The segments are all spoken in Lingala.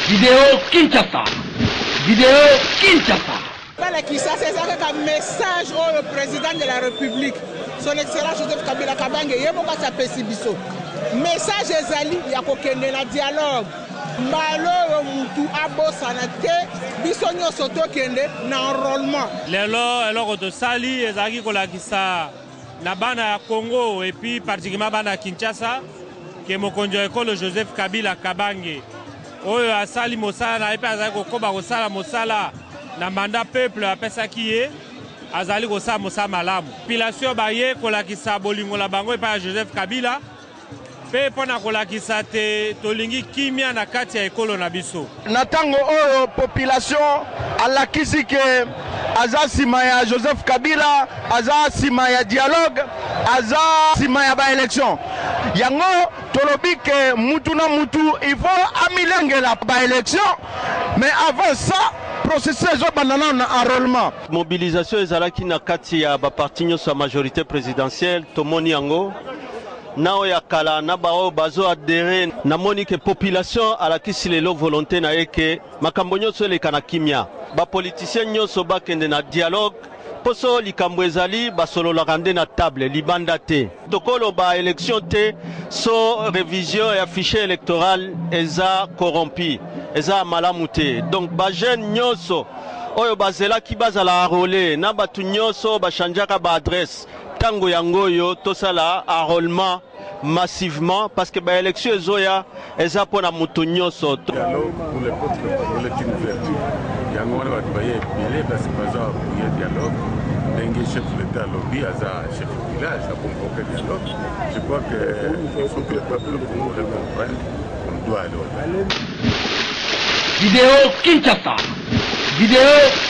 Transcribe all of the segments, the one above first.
Video Kinshasa. Video Kinshasa. Bala Kisasa eza kaka message oyo president de la République son excellence Joseph Kabila Kabange ye moko asi apesi biso message ezali ya kokende na dialogue mbala oyo mutu abosana te biso nyonso tokende na enrôlement lelo eloko tosali ezalaki kolakisa na bana ya Congo epuis particulièrement bana ya Kinshasa ke mokonzi wa ekolo Joseph Kabila Kabange oyo asali mosala na ye mpe azali kokoba kosala mosala na manda peuple apesaki ye azali kosala mosala malamu. Population baye kolakisa bolingo na bango epai ya Joseph Kabila mpe mpo na kolakisa te tolingi kimia na kati ya ekolo na biso. Na tango oyo population alakisi que aza sima ya Joseph Kabila, aza sima ya dialogue, aza sima ya ba elections. Yango tolobi que mutu na mutu il faut amilengela ba elections mais avant ça processus ezo banda nanu na enrolement. Mobilisation ezalaki na kati ya ba partis nionso ya majorite presidentielle, tomoni yango. na oyo ya kala na ba oyo bazo adherer na moni que population alakisi lelo volonte na ye que makambo nionso eleka na kimia ba politiciens nionso ba kende na dialogue po soki likambo ezali ba sololaka nde na table libanda te. Toko loba election te so revision ya fichier electoral eza corrompu eza ya malamu te donc ba jeunes nionso oyo ba zelaki ba zala enroler na batu nionso oyo ba changeaka ba adresse Tango yango oyo tosala enrolement massivement parce que ba elections ezoya eza pona mutu nyoso. Dialogue pour le peuple congolais est une vertu yango wana bato baye ebele kasi baza apuye dialogue ndenge chef de l'etat alobi aza chef de village akonvoke dialogue je crois que il faut que le peuple congolais comprenne on doit aller au dialogue Video Kinshasa. Video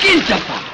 Kinshasa.